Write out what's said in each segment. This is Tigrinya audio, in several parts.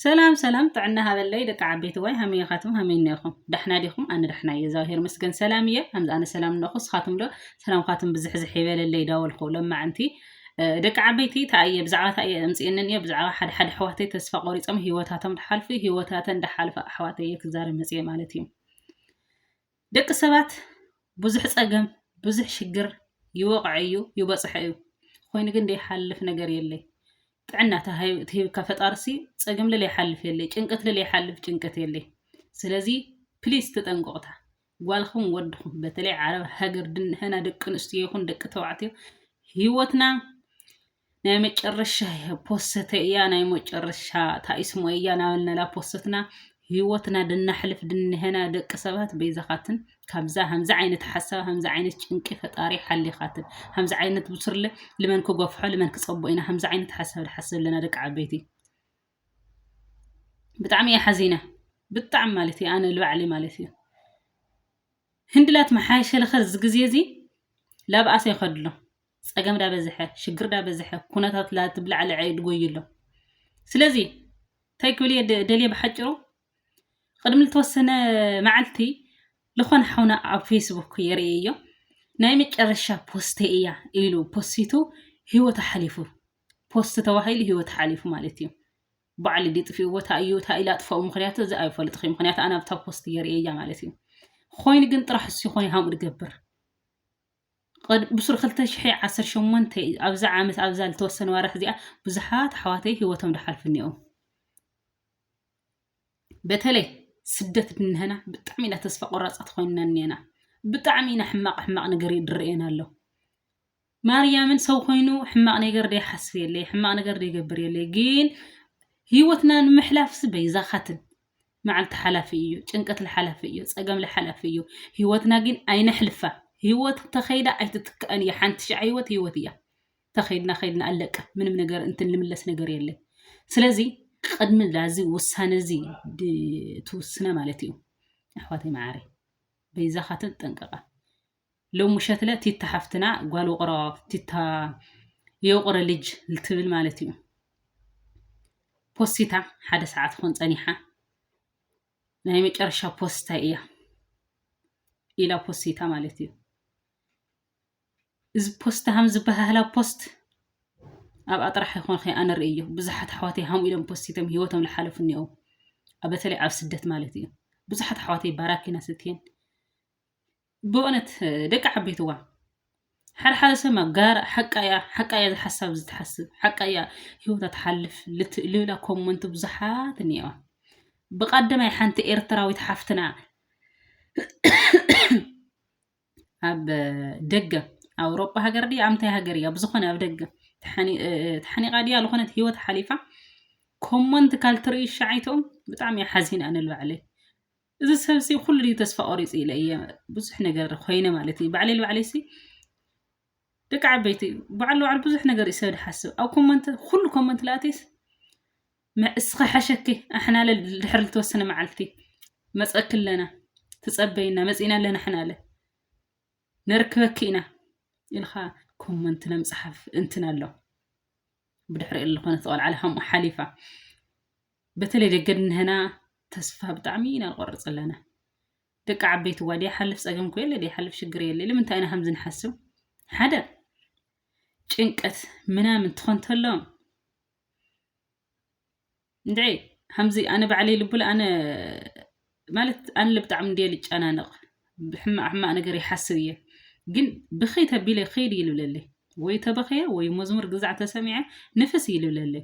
ሰላም ሰላም ጥዕና ሃበለይ ደቂ ዓበይቲ ዋይ ሃመይ ኢኻትም ሃመይ እነኹም ዳሕና ዲኹም ኣነ ዳሕና እየ እግዚኣብሄር መስገን ሰላም እየ ከምዚ ኣነ ሰላም እነኹ ስኻትም ዶ ሰላምኻትም ብዝሕዝሕ ይበለለይ ዳበልኹ ለማዕንቲ ደቂ ዓበይቲ ታእየ ብዛዕባ ታእየ እምፅእንን እየ ብዛዕባ ሓደ ሓደ ኣሕዋተይ ተስፋ ቆሪፆም ሂወታቶም ዳሓልፉ ሂወታተን ዳሓልፋ ኣሕዋተይ እየ ክዛረብ መፅየ ማለት እዩ ደቂ ሰባት ብዙሕ ፀገም ብዙሕ ሽግር ይወቕዐ እዩ ይበፅሐ እዩ ኮይኑ ግን ዘይሓልፍ ነገር የለይ ጥዕና ትሂብካ ፈጣርሲ ፀገም ልለ ይሓልፍ የለይ ጭንቀት ልለ ይሓልፍ ጭንቀት የለይ ስለዚ ፕሊስ ተጠንቀቑታ ጓልኹም ወድኹም በተለይ ዓረብ ሃገር ድንሕና ደቂ ኣንስትዮ ይኹን ደቂ ተባዕትዮ ህይወትና ናይ መጨረሻ ፖሰተ እያ ናይ መጨረሻ ታይስሞ እያ ናበልነላ ፖሰትና ህይወትና ድናሕልፍ ድንሄና ደቂ ሰባት በይዛኻትን ካብዛ ከምዚ ዓይነት ሓሳብ ከምዚ ዓይነት ጭንቂ ፈጣሪ ሓሊኻትን ከምዚ ዓይነት ብስርለ ልመን ክጎፍሖ ልመን ክፀቦ ኢና ከምዚ ዓይነት ሓሳብ ንሓስብ ኣለና ደቂ ዓበይቲ ብጣዕሚ እየ ሓዚነ ብጣዕሚ ማለት እዩ ኣነ ልባዕሊ ማለት እዩ ህንድላት መሓሸለኸ እዚ ግዜ እዚ ላብኣሰ ይኸድሎ ጸገም ዳ በዝሐ ሽግር ዳ በዝሐ ኩነታት ላቲ ብላዕሊ ዕይድ ጎዩሎ ስለዚ እንታይ ክብል እየ ደልየ ብሓጭሩ ቅድሚ ዝተወሰነ መዓልቲ ዝኾነ ሓውና ኣብ ፌስቡክ የርእየዮ ናይ መጨረሻ ፖስተ እያ ኢሉ ፖስቱ ህይወት ሓሊፉ ፖስት ተባሂሉ ህይወት ሓሊፉ ማለት እዩ ባዕሊ ዲጥፍኡ ቦታ እዩ እታ ኢላ ጥፈኡ ምክንያቱ እዚ ኣይፈልጥኺ ምክንያቱ ኣነ ኣብታ ፖስት የርእየያ ማለት እዩ ኮይኑ ግን ጥራሕ እሱ ይኾነ ሃምኡ ድገብር ብሱሩ ክልተ ሽሕይ ዓሰርተ ሸሞንተ ኣብዛ ዓመት ኣብዛ ልተወሰነ ዋራሕ እዚኣ ብዙሓት ኣሕዋተይ ህይወቶም ድሓልፉ እኒኦም በተለይ ስደት ድንሀና ብጣዕሚ ኢና ተስፋ ቆራፃት ኮይንና እኒና ብጣዕሚ ኢና ሕማቕ ሕማቕ ነገር ድርኤና ኣሎ ማርያምን ሰው ኮይኑ ሕማቕ ነገር ደይሓስብ የለይ ሕማቕ ነገር ደይገብር የለይ ግን ህይወትና ንምሕላፍሲ በይዛኻትን መዓልቲ ሓላፊ እዩ ጭንቀት ለሓላፊ እዩ ፀገም ለሓላፊ እዩ ህይወትና ግን ኣይነሕልፋ ህይወት ተኸይዳ ኣይትትክኣን እያ ሓንቲ ሸዓ ህይወት ህይወት እያ ተኸይድና ከይድና ኣለቀ ምንም ነገር እንትን ልምለስ ነገር የለ ስለዚ ቅድሚ ላዚ ውሳነ እዚ ትውስነ ማለት እዩ ኣሕዋተይ መዓረይ በይዛኻትን ጠንቀቓ ሎም ምሸትለ ቲታ ሓፍትና ጓል ውቅሮ ቲታ የውቅሮ ልጅ ልትብል ማለት እዩ ፖሲታ ሓደ ሰዓት ኾን ጸኒሓ ናይ መጨረሻ ፖስታይ እያ ኢላ ፖሲታ ማለት እዩ እዚ ፖስት ሃም ዝበሃህላ ፖስት ኣብኣ ጥራሕ ይኾን ከ ኣነ ርእዮ ብዙሓት ኣሕዋተይ ሃምኡ ኢሎም ፖስቲቶም ሂወቶም ዝሓለፉ እኒኦ በተለይ ኣብ ስደት ማለት እዩ ብዙሓት ኣሕዋተይ ባራኪና ስትየን ብእውነት ደቂ ዓበይትዋ ሓደ ሓደ ሰብ ማ ጋር ሓቃ እያ ሓቃ እያ ዝሓሳብ ዝትሓስብ ሓቃ እያ ሂወታ ትሓልፍ ልት- ልብላ ኮመንት ብዙሓት እኒኤዋ ብቀደማይ ሓንቲ ኤርትራዊት ሓፍትና ኣብ ደገ ኣውሮጳ ሃገር ድያ ኣብ እንታይ ሃገር እያ ብዝኾነ ኣብ ደገ ተሓኒ- እ- እ- ተሓኒቓ ድያ ዝኾነት ሂወት ሓሊፋ ኮመንት ካልትርኢ ሸዓይትኦም ብጣዕሚ እየ ሓዚና ንልባዕለይ እዚ ሰብ ሲ ኩሉ ድዩ ተስፋ ቆሪጹ ኢለ እየ ብዙሕ ነገር ኮይነ ማለት እዩ ባዕለይ ባዕለይ ሲ ደቂ ዓበይቲ ባዕሉ ባዕሉ ብዙሕ ነገር እዩ ሰብ ዝሓስብ ኣብ ኮመንት ኩሉ ኮመንት ላእቴስ እስኻ ሓሸኪ ኣሕናለ ድሕሪ ዝተወሰነ መዓልቲ መፀኪ ኣለና ትፀበይና መፂና ኣለና ኣሕናለ ነርክበኪ ኢና ኢልካ ኮመንት ንምፅሓፍ እንትን ኣሎ ብድሕሪ ዝኾነት ቆልዓ ሓሊፋ በተለይ ደቂ እንሀና ተስፋ ብጣዕሚ ኢና ንቆርፅ ዘለና ደቂ ዓበይቲ እዋ ደይሓልፍ ፀገም እኮ የለ ደይሓልፍ ሽግር የለ ንምንታይ ኢና ከምዚ ንሓስብ ሓደ ጭንቀት ምናምን ትኾን ተሎ እንድዒ ከምዚ ኣነ ባዕለይ ልቡለ ኣነ ማለት ኣነ ብጣዕሚ እንድየ ልጨናነቕ ብሕማቕ ሕማቕ ነገር ይሓስብ እየ ግን ብኸይ ተቢለ ከይድ ይልብለለይ ወይ ተበኸየ ወይ መዝሙር ግዛዕ ተሰሚዐ ንፍስ ይልብለለይ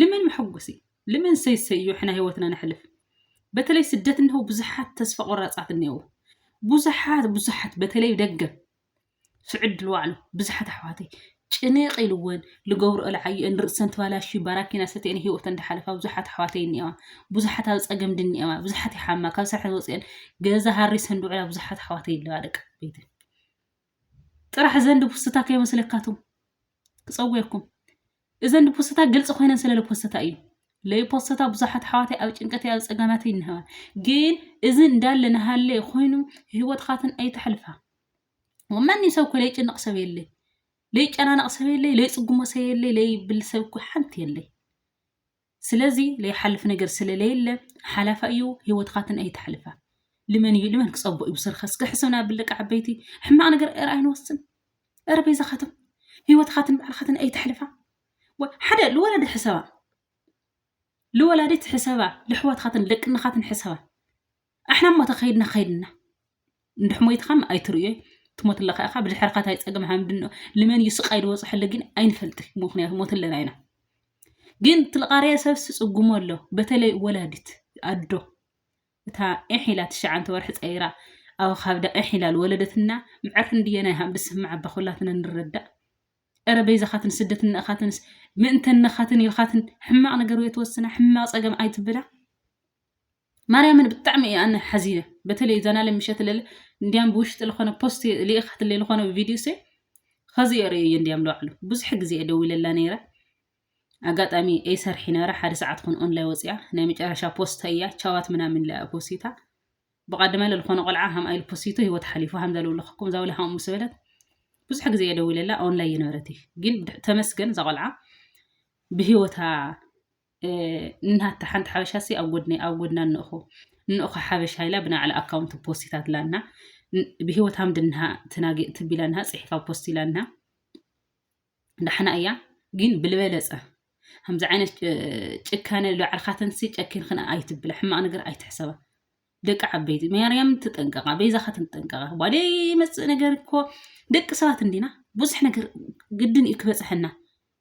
ልምን መሐጎሲ ልምን ሰይሰዩ ሕና ህይወትና ነሕልፍ በተለይ ስደት እነሆ ብዙሓት ተስፋ ቆራፃት እነው ብዙሓት ብዙሓት በተለይ ደገ ስዕድ ልዋዕሉ ብዙሓት ኣሕዋተይ ጭንቅ ኢልወን ልገብሩ እልዓዩ እን ርእሰን ትባላሹ ባራኪና ሰትአን ህይወተን እንዳሓለፋ ብዙሓት ኣሕዋተይ እኒኤዋ ብዙሓት ኣብ ፀገም ድኒኤዋ ብዙሓት ይሓማ ካብ ስራሕ ዝወፅአን ገዛ ሃሪሰን ድውዕላ ብዙሓት ኣሕዋተይ ኣለዋ ደቂ ቤትን ጥራሕ እዘን ድፉስታ ከይመስለካ ትም ክጸውየኩም እዘን ድፉስታ ግልጽ ኮይነን ስለ ልፖስታ እዩ ለይፖስታ ብዙሓት ኣሕዋተይ ኣብ ጭንቀት ኣብ ጸገማት ይንህዋ ግን እዚ እንዳለ ንሃለ ኮይኑ ህይወትካትን ኣይተሕልፋ ወማንም ሰብ እኮ ለይጭነቕ ሰብ የለይ ለይጨናነቕ ሰብ የለይ ለይጽጉሞ ሰብ የለይ ለይብል ሰብ እኮ ሓንቲ የለይ ስለዚ ለይሓልፍ ነገር ስለ ለየለ ሓላፋ እዩ ህይወትካ ግን ኣይተሕልፋ ልመን እዩ ልመን ክፀቦ እዩ ብስርካ እስከ ሕሰብና ብል ደቂ ዓበይቲ ሕማቅ ነገር ኧረ ኣይንወስን ኧረ በይዛካትም ህይወትካትን ባዕልካትን ኣይተሕልፋ ወ- ሓደ ልወላዲት ሕሰባ ልወላዲት ሕሰባ ልሕዋትካትን ደቅናካትን ሕሰባ ኣሕና እሞ ተኸይድና ከይድና እንድሕ ሞይትኻ ም ኣይትርእዮ ትሞት ኣለኻ ኢኻ ብድሕርኻ ታይ ፀገም ሃምድን ልመን እዩ ስቃይ ዝበፅሐሉ ግን ኣይንፈልጥ ምክንያቱ ሞት ኣለና ኢና ግን ትልቃርያ ሰብ ስጽጉሞ ኣሎ በተለይ ወላዲት ኣዶ እታ ኤሕ ኢላ ትሽዓንተ ወርሒ ፀይራ ኣብ ካብዳ ኤሕ ኢላ ዝወለደትና ምዕር ክንድየ ናይ ሃም ድስምዕ ኣባ ኩላትና ንረዳእ እረ በይዛኻትን ስደት እነኻትንስ ምእንተ እነኻትን ኢልኻትን ሕማቕ ነገር ወይ ትወስና ሕማቕ ፀገም ኣይትብላ ማርያምን ብጣዕሚ እየ ኣነ ሓዚነ በተለይ ዘናለ ምሸት ለለ እንዲያም ብውሽጢ ዝኾነ ፖስት ልኢኻትለይ ዝኾነ ቪድዮ ሰ ኸዚ የርእየ እየ እንዲያም ለባዕሉ ብዙሕ ግዜ እየ ደዊለላ ነይረ ኣጋጣሚ እይ ሰርሒ ነበረ ሓደ ሰዓት ኹን ኦንላይ ወፅያ ናይ መጨረሻ ፖስታ እያ ቻዋት ምናምን ለኣ ፖስታ ብቀደመ ዝኾነ ቆልዓ ሃምኣ ኢሉ ፖስቱ ሂወት ሓሊፉ ሃምዛ ልውለኸኩም እዛ ወላ ሃምኡ ምስ በለት ብዙሕ ግዜ እየ ደዊለላ ኦንላይ የነበረት ግን ተመስገን እዛ ቆልዓ ብሂወታ እናታ ሓንቲ ሓበሻ ሲ ኣብ ጎድኒ ኣብ ጎድና እንእኹ እንእኹ ሓበሻ ኢላ ብናዕላ ኣካውንት ፖስት ኢታትላና ብሂወት ሃምድ እንሃ ትናጊ ትቢላ እንሃ ጽሒፋ ፖስት ኢላ እንሃ ዳሕና እያ ግን ብልበለጸ ከምዚ ዓይነት ጭካነ ላዕልካተንሲ ጨኪንክን ኣይትብላ ሕማቅ ነገር ኣይትሕሰባ ደቂ ዓበይቲ ማርያም ትጠንቀቃ ቤዛካ ትጠንቀቃ ባደ መፅእ ነገር እኮ ደቂ ሰባት እንዲና ብዙሕ ነገር ግድን እዩ ክበፅሐና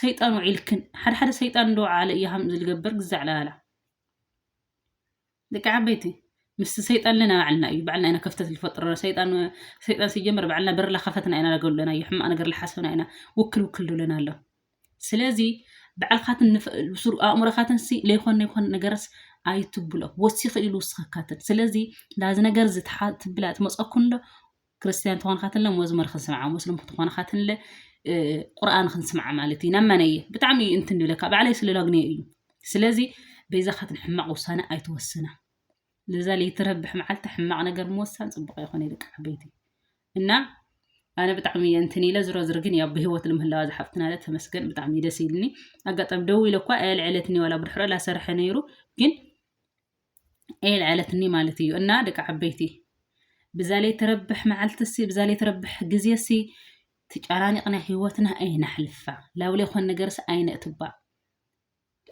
ሰይጣን ውዒልክን ሓደ ሓደ ሰይጣን እንደወዓለ እዩ ሃም ዝልገበር ግዛዕላላላ ደቂ ዓበይቲ ምስ ሰይጣን ለና ባዕልና እዩ ባዕልና ኢና ከፍተት ዝፈጥረና ሰይጣን ሰይጣን ሲጀመር ባዕልና በርላ ከፈትና ኢና ለገሉለና እዩ ሕማቅ ነገር ልሓሰብና ኢና ውክል ውክል ዶለና ኣሎ ስለዚ ባዕልካትን ብሱር ኣእምሮካትን ሲ ለይኮነ ይኮነ ነገርስ ኣይትብሎ ወሲኺ ኢሉ ውስኸካትን ስለዚ ላዚ ነገር እዚ ትብላ ትመፀኩን ዶ ክርስትያን ተኾንኻትንለ መዝሙር ክንስምዓ ሙስሊም ክትኾን ካትንለ ቁርኣን ክንስምዓ ማለት እዩ ናብ መነየ ብጣዕሚ እዩ እንትን ድብለካ ባዕለይ ስለላግነየ እዩ ስለዚ በይዛኻትን ሕማቕ ውሳነ ኣይትወስና ለዛ ለይትረብሕ መዓልቲ ሕማቕ ነገር ምወሳን ፅቡቕ ይኾነ ደቂ ዓበይቲ እና ኣነ ብጣዕሚ እየ እንትን ኢለ ዝሮ ዝር ግን ያው ብሂወት ልምህላዋ ዝሓፍትና ለ ተመስገን ብጣዕሚ ደስ ኢልኒ ኣጋጣሚ ደው ኢለ እኳ ኣየልዕለትኒ ዋላ ብድሕሮ ላሰርሐ ነይሩ ግን የልዐለትኒ ማለት እዩ እና ደቂ ዓበይቲ ብዛለይ ትረብሕ መዓልትሲ ብዛለይ ትረብሕ ግዜሲ ተጨናኒቕና ህይወትና ኣይነሕልፋ ላብለ ይኾን ነገርስ ኣይነእትባ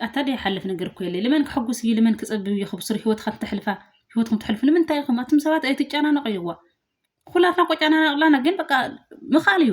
ኣታ ደይሓልፍ ነገር እኮ የለ ልመን ክሕጉስ እዩ ልመን ክፀብብ እዩ ክብስሩ ህይወትካ ተሕልፋ ህይወትኩም ትሕልፉ ንምንታይ ኢኹም ኣቱም ሰባት ኣይትጨናነቑ እዩዋ ኩላትና እኮ ጨናናቕላና ግን በቃ ምኻል እዩ